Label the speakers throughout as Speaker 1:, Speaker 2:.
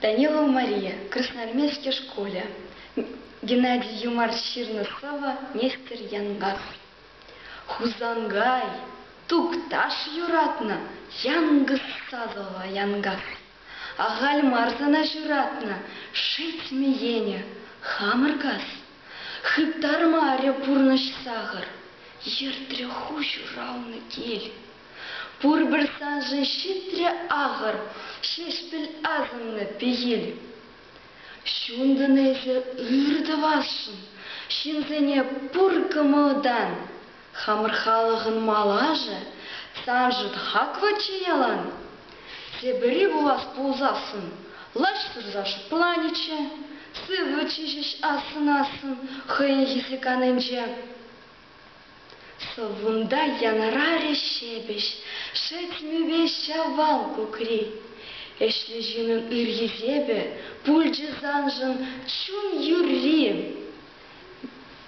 Speaker 1: Данилова Мария, Красноармейски шкулӗ, Геннадий Юмар ҫырнӑ сӑвӑ Нестер Янгар. Хусангай, тукташ юратнӑ, Янгыз Садова Янгар. Ахаль мар сана ҫуратнӑ, шеҫмеенӗ, хамӑр кас. Хыптармарӗ пурнӑҫ сахӑр, ертрӗ ху ҫуралнӑ кил. Пурпӗр саншӑн ҫитрӗ ахӑр Ҫеҫпӗл асӑннӑ пехил. Ҫунтӑн эсӗ ыр тӑвасшӑн Ҫынсене пур кӑмӑлтан. Хамӑр халӑхӑн малашӗ Саншӑн хаклӑччӗ ялан. Тепӗри пулас пулсассӑн Лаҫ сурса шӑпланӗччӗ, Сывлӑччӗ ҫеҫ ассӑн-ассӑн Хӑйӗн хӗсӗк анинче. Вунта янӑрарӗ ҫепӗҫ шӗт мӳпе ҫавал кукри. Ӗҫлӗ ҫыннӑн ыр хисепӗ пулчӗ саншӑн чун юрри.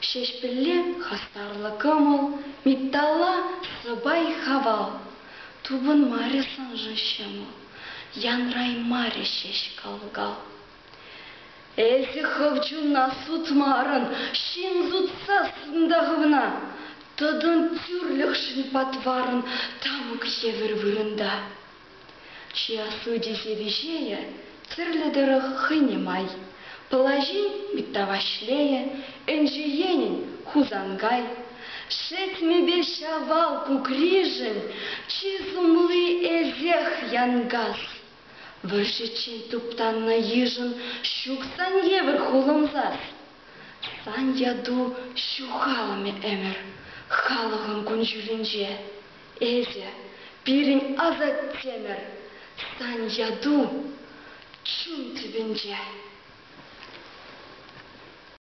Speaker 1: Ҫеҫпӗлле хастарлӑ кӑмӑл, митталла сӑпай-хавал. Тупӑнмарӗ саншӑн ҫӑмӑл, янраймарӗ ҫеҫ кал-кал. Эсӗ хӑв чунна сутмарӑн, ҫын сутса сунта хӑвна. Тӑтӑн тӳрлӗхшӗн патварӑн тамӑк евӗр вырӑнта. Чи аслӑ тесе виҫейӗ тӗрлӗ тӑрӑх хӑйне май. Пӑлаҫин Митта Ваҫлейӗ, Энче енӗн Хусанкай. Шетмӗпе Ҫавал кукришӗн чи сумли Эсех Янкас. Вӑрҫӑччен туптаннӑ йышӑн ҫук сан евӗр хулӑнсас. Сан яту ҫухалмӗ ӗмӗр халӑхӑн кун-ҫулӗнче. Эсӗ, пирӗн асаттемӗр, сан яту чун тӗпӗнче.